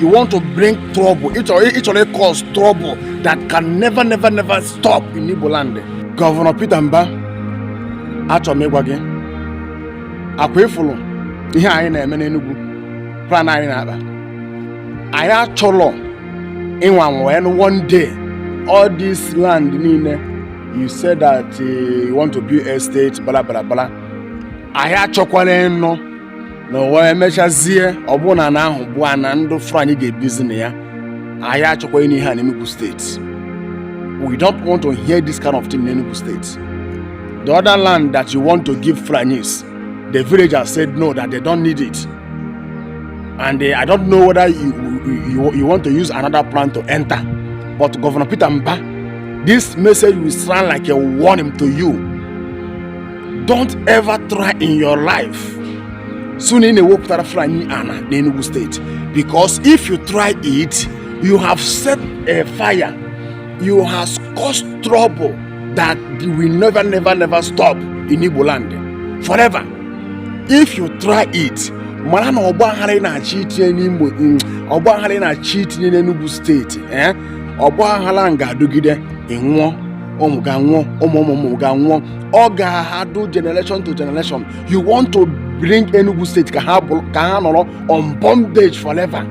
you want to bring trouble ị chọrọ ị cause trouble that can never never never stop in Igbo land gọvanọ Peter Mba achọrọ m ịgwa gị akwa ị fụrụ ihe a ị na-eme n'Enugu plan a ị na-akpa anyị achọrọ ịnwa wee nụ one day all this land niile you said that eh, you want to build estate bla bla bla anyị achọkwala ịnụ na e wee mechazie ọ bụ na ana ahụ bụ ana ndụ Fulani ga-ebizi na ya anyị achọkwa ịnụ ihe a n'Enugu steeti we don't want to hear this kind of thing in Enugu State the other land that you want to give Fulanis the villagers said no that they don't need it and uh, I don't know whether you, you, you want to use another plan to enter but Governor Peter Mba this message will sound like a warning to you don't ever try in your life sị na ị na-ewepụtara Fulani ana n'Enugu steeti because if you try it you have set a fire you have caused trouble that will never never never stop in Igbo land forever if you try it mara na ọgbaghara ị na-achọ itinye n'Imo mm, ọgbaghara ị na-achọ itinye n'Enugu steeti eh? ọgbaghara ga-adụgide ị nwụọ ụmụ gị anwụọ ụmụ ụmụ ụmụ gị anwụọ ọ ga-adụ generation to generation you want to bring Enugu State ka ha ka ha nọrọ on bondage forever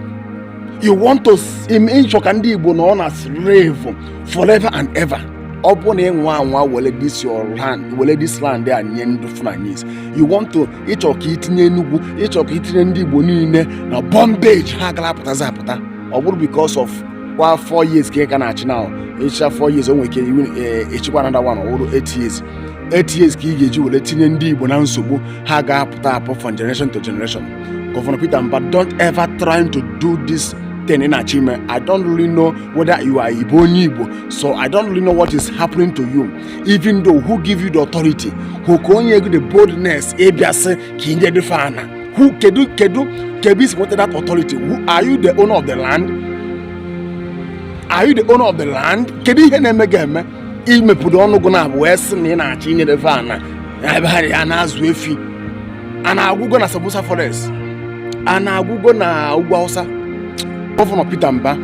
you want to ị chọ ka ndị Igbo nọ na slave forever and ever ọ bụrụ na ị nwaa anwa were this your land were this land a nye ndị Fulanis you want to ị chọ ka i tinye Enugu ị chọ ka i tinye ndị Igbo niile na bondage ha agara apụtazi apụta ọ bụrụ because of kwa four years ka ị ka na-achị now ị chịchaa four years o nwere ike i wee chịkwa another one ọ bụrụ eight years eight years ka ị ga-eji were tinye ndị igbo na nsogbu ha ga-apụta apụ from generation to generation gọvanọ peter mba don't ever try to do this thing ị na-achọ ime i don't really know whether you are igbo onye igbo so i don't really know what is happening to you even though who give you the authority who ka o nye gị the boldness ịbịa sị ka i nye ndị efi ana who kedu kedu kedu ebe i si nweta that authority who are you the owner of the land are you the owner of the land kedu ihe na-eme gị eme i mepụta ọnụ gụ n'abụọ wee sị na ị na-achọ inye ndị efi ana ebe ha ya na-azụ efi ana agwụgo na Sambisa forest ana agwụgo na ugwu Hausa gọvanọ Peter Mba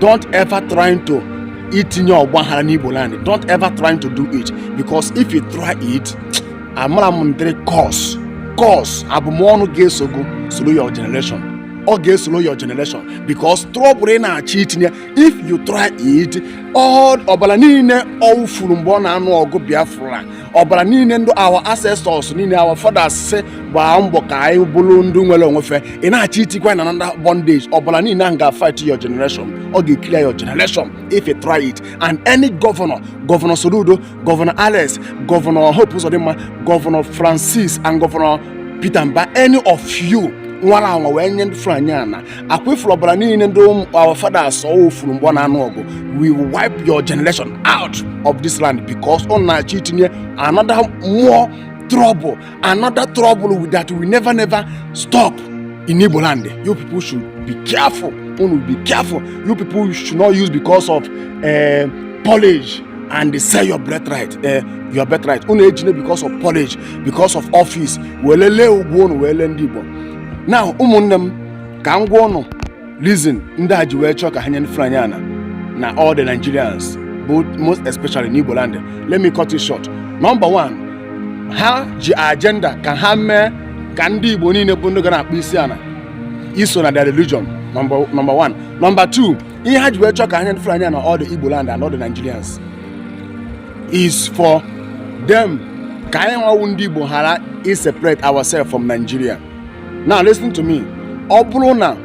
don't ever try to itinye ọgbaghara n'Igbo land don't ever try to do it because if you try it amara m ndịrị curse curse abụmọnụ ga-esogo soro your generation ọ ga-esoro your generation because trouble ị na-achọ itinye if you try it ọbara niile wụfuru mgbe ọ na-anụ ọgụ Biafra ọbara niile ndị our ancestors niile our fathers si gbaa mbọ ka anyị bụrụ ndị nwere onwe fa ị na-achọ itikwa na another bondage ọbara niile ahụ ga-fight your generation ọ ga-eclear your generation if you try it and any governor governor Soludo gọvanọ alex gọvanọ hope ụzọdịmma gọvanọ francis and gọvanọ peter mba any of you nwara anwa wee nye ndị Fulani ana ọ kwa ị fụrụ ọbara niile ndị our fathers wụfuru mgbe ọ na-anụ ọgụ we will wipe your generation out of this land because unu na-achọ itinye another more trouble another trouble with that we never never stop in Igbo land. You people should be careful. Unu be careful. You people should not use because of uh, polish and sell your birthright. Uh, your birthright. Unu ejine because of polish, because of office. Welele ugwu unu wele ndị Igbo. Now ụmụnne m ka m gwa unu reason ndị a ji wee chọọ ka ha nye Fulani ana na all the Nigerians but most especially n'Igbo land let me cut it short number one ha ji agenda ka ha mee ka ndị Igbo niile bụ ndị ga na-akpọ isi ana iso na their religion number number one number two ihe ha ji wee chọọ ka ha nye Fulani ana all the Igbo land and all the Nigerians is for them ka anyị nwa wụ ndị Igbo ghara iseparate ourselves from Nigeria now listen to me ọ bụrụ na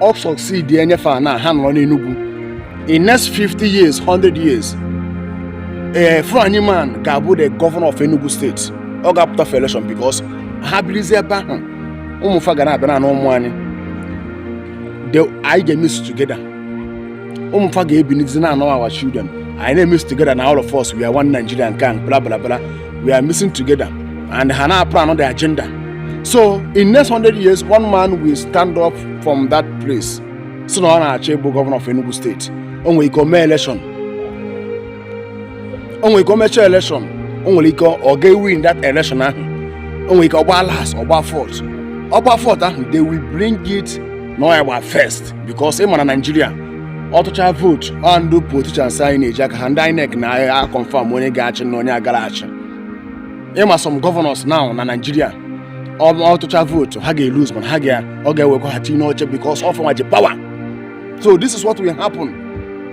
ọ succeed enye fa ana ha nọrọ n'Enugu in next 50 years 100 years ee eh, Fulani man ga-abụ the governor of Enugu state ọ ga-apụta for election because ha birizi ebe ahụ ụmụ fa ga na-abịa na ụmụ anyị anyị ga-emix together ụmụ fa ga-ebinizi na-anụ our children anyị na-emix together na all of us we are one Nigeria nke a bla bla bla we are mixing together and ha na-aplan on the agenda so in next 100 years one man will stand up from that place sị na ọ na-achọ ịbụ gọvanọ of Enugu state o nwere ike o mee election o nwere ike o mecha election o nwere ike ọ ga-ewin that election ahụ o nwere ike ọ gbaa last ọ gbaa fourth ọ gbaa fourth ahụ they will bring it na ọ ya gba first because ị mara Nigeria ọ tụcha vote ọ ndị politicians anyị na-eji aka ha ndị INEC na-aga confirm onye ga-achị na onye agara achị ị ma some governors nọ na Nigeria ọ tụcha vote ha ga-elose mana ha ga ọ ga-ewekwa ha tinye n'oche because ọ fa nwa ji power so this is what will happen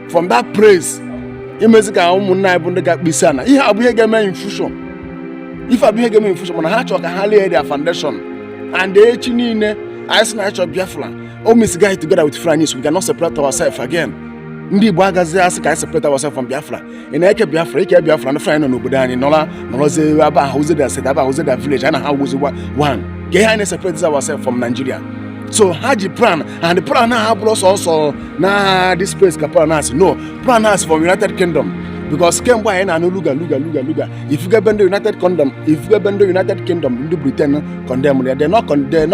from that place imezi ka ụmụnne anyị bụ ndị ga-akpọ isi ana ihe a bụ ihe ga-eme in future ife a bụ ihe ga-eme in future mana ha chọrọ ka ha lay their foundation and echi niile anyị sị na anyị chọrọ Biafra O mixgo anyị together with Fulanis, we cannot separate ourselves again. Ndị Igbo agazi asị ka anyị separate ourselves from Biafra. Ị na-eke Biafra, ike Biafra na Fulani nọ n'obodo anyị nọla nọrọzie ebe a wụzi their state ebe a wụzi their village anyị na ha wụzi one. Kee ihe anyị na-eseparate ourselves from Nigeria. So ha ji plan and plan ha abụrọ sọsọ na this place ka plan a si no plan a si from United Kingdom because kemgbe anyị na-anụ Ruga Ruga Ruga Ruga ị fụgo ebe ndị United Kingdom ị fụgo ebe ndị United Kingdom ndị Britain condemn ya they not condemn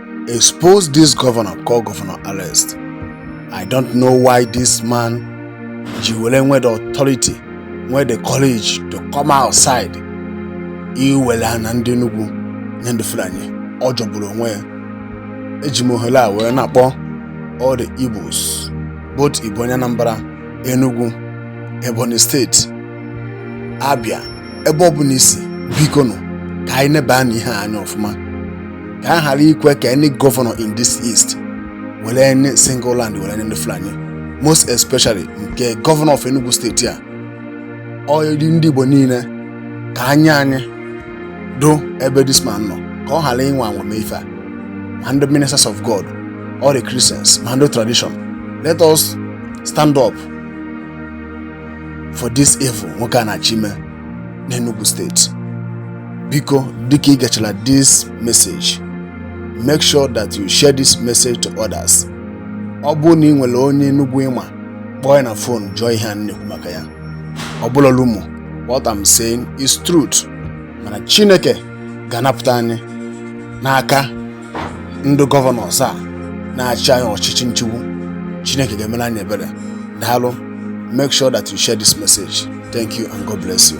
Expose this governor call governor arrest. I don't know why this man ji were nwe the authority nwe the courage to come outside iwere ana ndị Enugu nye ndị Fulani ọ jọgburu onwe ya eji m ohere a wee na-akpọ all the Igbos both ị bụ onye Anambra Enugu Ebonyi steeti Abia ebe ọbụla i si biko nụ ka anyị nebanụ ihe a anya ọfụma ka a ghara ikwe ka any governor in this east were any single land were nye ndị fulani most especially nke governor of enugu steeti a ọ dịrị ndị igbo niile ka anya anyị dụ ebe this man nọ ka ọ ghara ịnwa anwa me ife a ma ndị ministers of god all the christians ma ndị tradition let us stand up for this evil nwoke a na-achọ ime n'Enugu steeti biko dịka i gechara this message make sure that you share this message to others ọ bụrụ na ị nwere onye Enugu ị ma kpọọ ya na fon jụọ ihe a na-ekwu maka ya ọ bụrọ rumour what I'm saying is truth mana Chineke ga-anapụta anyị n'aka ndị governors a na-achị anyị ọchịchị nchigbu chineke ga-emere anyị ebere daalụ make sure that you share this message thank you and god bless you